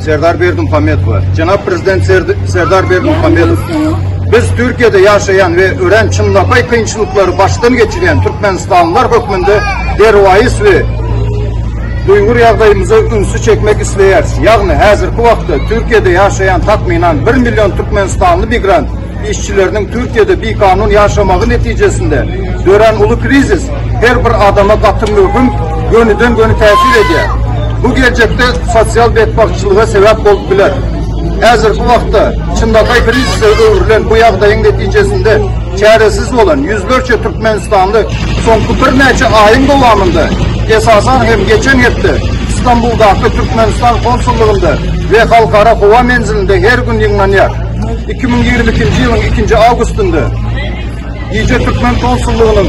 Serdar Berdimuhamedowa. Jenap Prezident Serdar Berdimuhamedow, biz Türkiýede ýaşaýan we örän çynlakaý kynçylyklary başdan geçirýän türkmenistanlylar hökmünde derwaýys we duýgur ýagdaýymyza ünsi çekmek isleýäris. Ýagny, häzirki wagtda Türkiýede ýaşaýan takmynan bir million türkmenistanly migrant Işçileriniň Türkiýede bikanun ýaşamagy netijesinde dörän uly krizis her bir adama gaty möhüm gönüden-göni täsir edýär. Bu geljekde sosial betbagtçylyga sebäp bolup biler. Häzirki wagtda çynlakaý krizise öwrülen bu ýagdaýyň netijesinde çäresiz bolan ýüzlerçe türkmenistanly soňky birnäçe aýyň dowamynda, esasan hem geçen hepde Stambuldaky Türkmenistan konsullygynda we halkara howa menzilinde her gün ýygnanýar. 2022-nji ýylyň 2-nji awgustynda gije türkmen konsullygynyň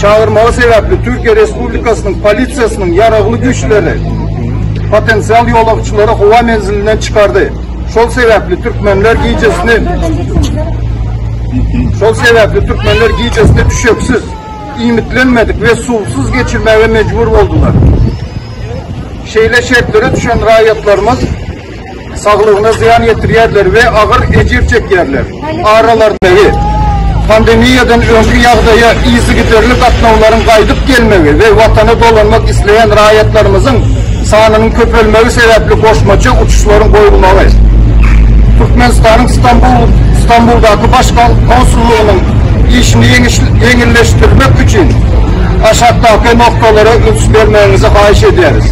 çagyrmagy sebäpli Türkiýe Respublikasynyň polisiýasynyň ýaragly güýçleri potensial ýolagçylary howa menzilinden çykardy. Şol sebäpli türkmenler gijesini Şol sebäpli türkmenler gijesini düşeksiz, iýmitlenmedik we suwsuz geçirmäge mejbur boldular. Şeýle şertlere düşen raýatlarymyz saglygyna zyýan ýetirýärler we agyr ejir çekýärler. Aralaryndaky pandemiýadan öňki ýagdaýa yzygiderli gatnawlaryň gaýdyp gelmegi we Watana dolanmak isleýän raýatlarymyzyň sanynyň köpelmegi sebäpli goşmaça uçuşlaryň goýulmagy Türkmenistanyň Stambuldaky Baş konsullygynyň işini ýeňilleşdirmek üçin aşakdaky noktalara üns bermegiňizi haýyş edýäris.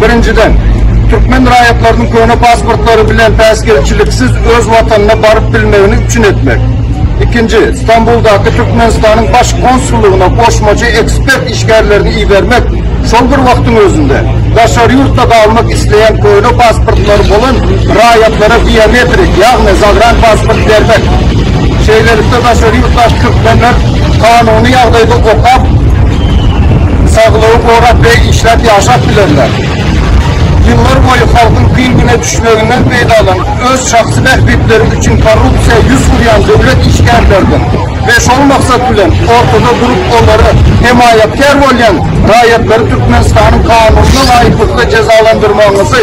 Birinjiden, türkmen raýatlarynyň köne pasportlary bilen päsgelçiliksiz öz watanyna baryp bilmegini üpjün etmek. Ikinji, Stambuldaky Türkmenistanyň Baş konsullygyna goşmaça ekspert işgärlerini ibermek, şol bir wagtyň özünde, daşary ýurtda galmak isleýän köne pasportlary bolan raýatlara biometrik, ýagny zagranpasport bermek. Şeýlelikde, daşary ýurtdaky türkmenler kanuny ýagdaýda okap, saglygy gorap we işläp ýaşap bilerler. Ýyllar boýy halkyň kyn güne düşmeginden peýdalanyp, öz şahsy bähbitleri üçin korrupsiýa ýüz urýan döwlet işgärlerden we şol maksat bilen ortada durup olara hemaýatkär bolýan raýatlary Türkmenistanyň kanunyna laýyklykda jezalandyrmagyňyzy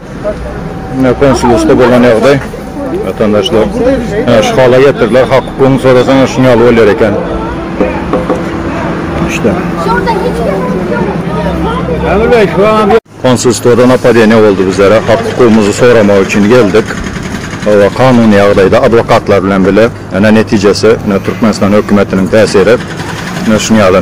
Ine konsulusda bolan ýagdaý watandaşlar. Ine şu hala getirdiler hak hukugyňy sorasaňa şun ýaly bolýar eken. İşte. Konsulstwada napadeniýa boldy bizlere hak hukugymyzy soramak üçin geldik. Hawa kanuny ýagdaýda adwokatlar bilen bile ine netijesi ine Türkmenistan hökümetiniň täsiri ine şun ýaly.